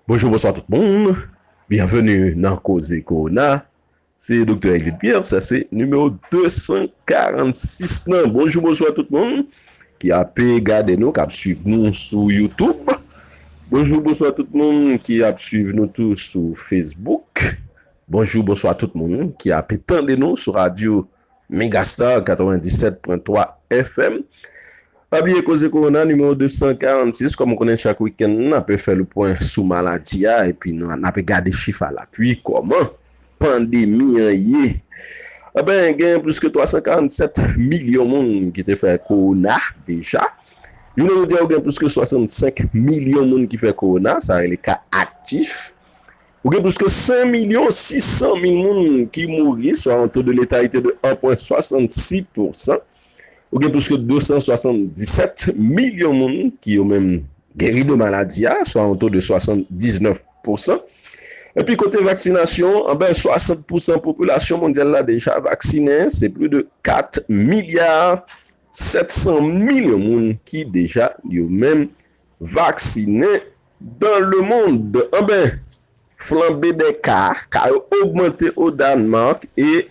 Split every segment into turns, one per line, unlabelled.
Bonjou bonswa tout moun, byenveni nan koze kowona, se doktè Egid Pierre, sa se nimewo 246 nan, bonjou bonswa tout moun ki ape gade nou, kap swiv nou sou youtube, bonjou bonswa tout moun ki ap swiv nou tou sou facebook, bonjou bonswa tout moun ki ape tande nou sou radyo. Megastar 97.3 FM Pa bliye koze korona nimewo 246 kòm ou konnen chak wikenn n ape fè lepwen sou maladi a epi n ape gade chif a lapui kòman pandemi an ye Anben gen plis ke 347 milyon moun ki te fè kowona deja Jounen jodi a ou gen plis ke 65 milyon moun ki fè kowona sa rele ka aktif. Ou gen plis ke 5 milyon 600 mil moun ki mouri, swa yon to de letalite de 1 pwen 66 pousan. Ou gen plis ke 277 milyon moun ki yo menm geri de maladi a, swa yon to de 79 pousan. Epi kote vaksinasyon, anben 60 pousan popilasyon mondyal la deja vaksinen, se plis de 4 milya 700 milyon moun ki deja yo menm vaksine dan le mond. Anben, flanbe dè ka ka yo ogmante o Dànmak e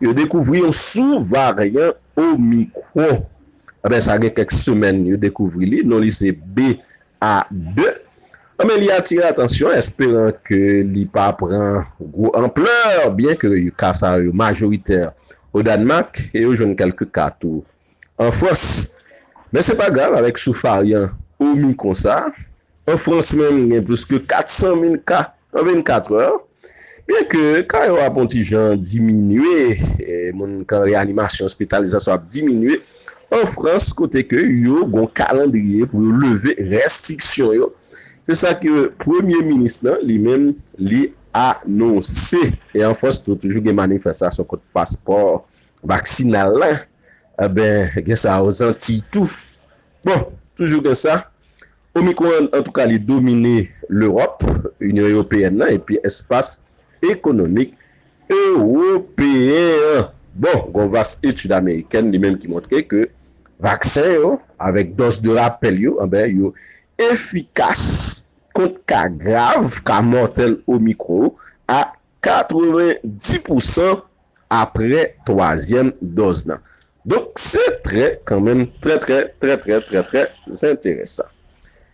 yo dekouvri yon sou varyan Omicron. Anben, sa gen kèk semèn yo dekouvri li, non li se BA2. Anben, li atire atansyon esperan ke li pa pran gwo anplè, byen ke ka sa yo majoritè o Dànmak e yo jwenn kèlke ka tou an Frans. Men se pa grav avèk sou varyan omicron sa, an Frans menm gen plis ke 400 mil ka an 24 è, byen ke ka yo ap on ti jan diminye, moun k an reanimasyon, ospitalizasyon ap diminye an Frans kote ke yo gon kalandriye pou yo leve rèstriksyon yo, se sa ke premye minis lan li menm li anonse. E an Frans tou toujou gen manifestasyon kont paspò vaksinal la enben gen sa o zantiy tou bon toujou gen sa omicron antouka li domine lerop inyon eopeyèn nan epi espas ekonomik ewopeyen an bon gon vas etid amerikèn li menm ki montre ke vaksen yo avèk dòz de rapèl yo enben yo efikas kont ka grav ka mòtèl omicron a 90 pousan apre twazyèm dòz nan. Donk se trè kanmenm trè trè trè trè trè trè enteresan.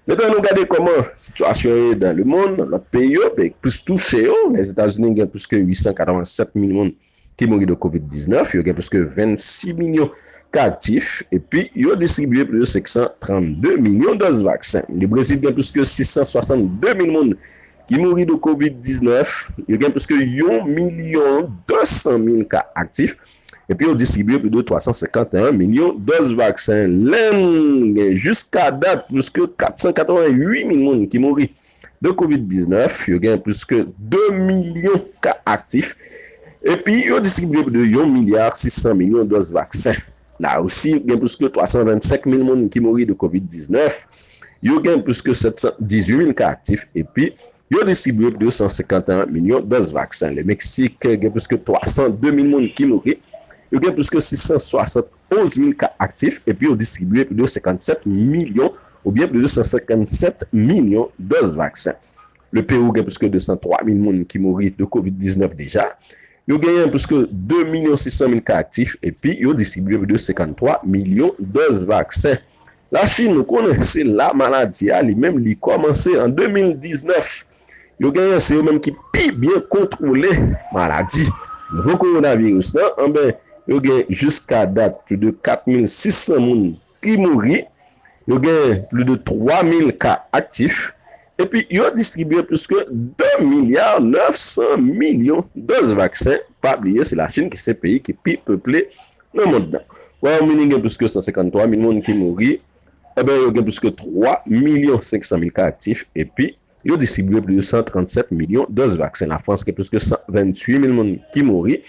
Metan nou gade kòman sitiyasyon ye dan lemonn, nan lòt peyi yo, peyi k plis touche yo, Lèzetazini gen plis ke 887 mil moun ki mouri de kovid 19, yo gen plis ke 26 milyon ka aktif epi yo distribye plis de 532 milyon dòz vaksen. Lebrezil gen plis ke 662 mil moun ki mouri de kovid 19, yo gen plis ke yon milyon 200 mil ka aktif epi yo distribye plis de 351 milyon dòz vaksen len gen jiska dat plis ke 488 mil moun ki mouri de kovid 19, yo gen plis ke 2 milyon ka aktif epi yo distribye plis de yon milya 600 milyon dòz vaksen. Larisi gen plis ke 325 mil moun ki mouri de kovid 19, Yo gen plis ke 718 mil ka aktif epi yo distribye 251 milyon dòz vaksen. Lemeksik gen plis ke 302 mil moun ki mouri. Yo gen plis ke 671 mil ka aktif epi yo distribye plis de 57 milyon oubyen plis de 157 milyon dòz vaksen. Lepewou gen plis ke 203 mil moun ki mouri de kovid 19 deja. Yo genyen plis ke 2 milyon 600 mil ka aktif epi yo distribye plis de 53 milyon dòz vaksen. La Chine ou konnen se la maladi a li menm li kòmanse an 2019. Yo genyen se yo menm ki pi byen kontwole maladi nouvo kowonaviris lan anben yo gen jiska dat pli de 4600 moun ki mouri, yo gen pli de 3000 ka aktif. Epi yo distribye pliske 2 milya 900 milyon doz vaksen, pa bliye se Lachin ki se peyi ki pi peple nan mond lan. Wayòm-Ini gen pliske 153 mil moun ki mouri, enben yo gen pliske 3 milyon 500 mil ka aktif epi yo distribye pliske 137 milyon doz vaksen. Lafrans gen pliske 128 mil moun ki mouri,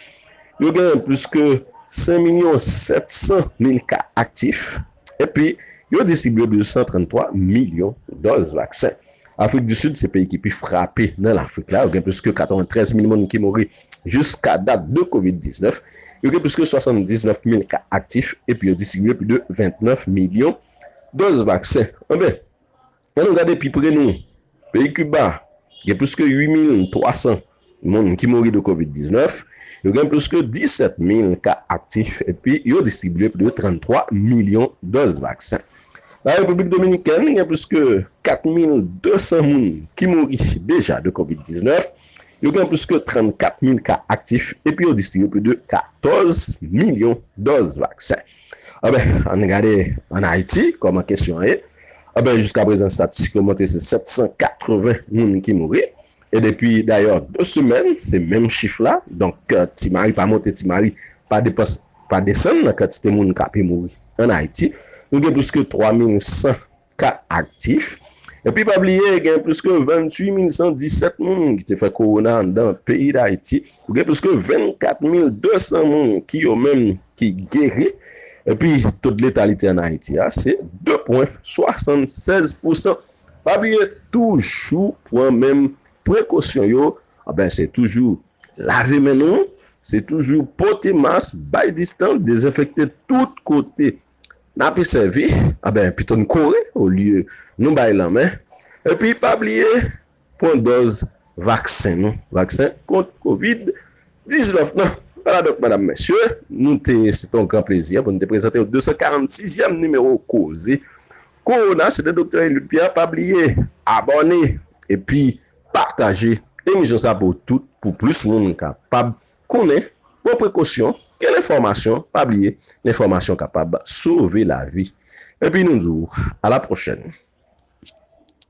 yo gen pliske 5 milyon 700 mil ka aktif. epi yo distribye 233 milyon dòz vaksen. Afrik di Sid se peyi ki pi frape nan Lafrik la, yo gen plis ke 93 mil moun ki mouri jiska dat de Kovid 19, yo gen plis ke 79 mil ka aktif epi yo distribye plis de 29 milyon dòz vaksen. Anben! An nou gade pi pre nou, peyi Kiba gen plis ke 8 mil 300 moun ki mouri de Kovid 19, yo gen plis ke 17 mil ka aktif epi yo distribye plis ke 33 milyon dòz vaksen. Nan Repiblik Dominikèn gen plis ke 4 mil 200 moun ki mouri deja de Kovid 19, yo gen plis ke 34 mil ka aktif epi yo distribye plis ke 14 milyon dòz vaksen. Anben, ann gade ann Ayiti kòman kesyon an ye. Anben, jiska prezan statistik yo montre se 780 moun ki mouri. E depi dayè 2 semèn, se menm chif la. Donk, Ti Mari pa monte Ti Mari pa depanse pa desann nan kantite moun k ape mouri ann Ayiti. Nou gen plis ke 3100 ka aktif. Epi pa bliye gen plis ke 28 mil 117 moun ki te fè kowona anndan peyi Dayiti. Gen plis ke 24 mil 200 moun ki yo menm ki geri. Epi to de letalite an Ayiti a se 2 pwen 76 pousan. Pa bliye toujou pran menm prekosyon yo. Anben se toujou lave men nou. Se toujou pote mas, bay distans, dezenfekte tout kote. N ape sèvi anben pito n kore olye nou bay lanmen epi pa bliye pwan dòz vaksen nou vaksen kont kovid 19 nan wala donk madam mesye nou te se te yon gran plezi pou n te prezante 246 yèm nimewo koze kowona se te doktè Eliud Pierre pa bliye abòne epi pataje emisyon sa pou tout pou plis moun kapab Konnen, pran prekosyon, gen lenfòmasyon, pa bliye, lenfòmasyon kapab sove lavi. Epi nou di w, a la pwochèn!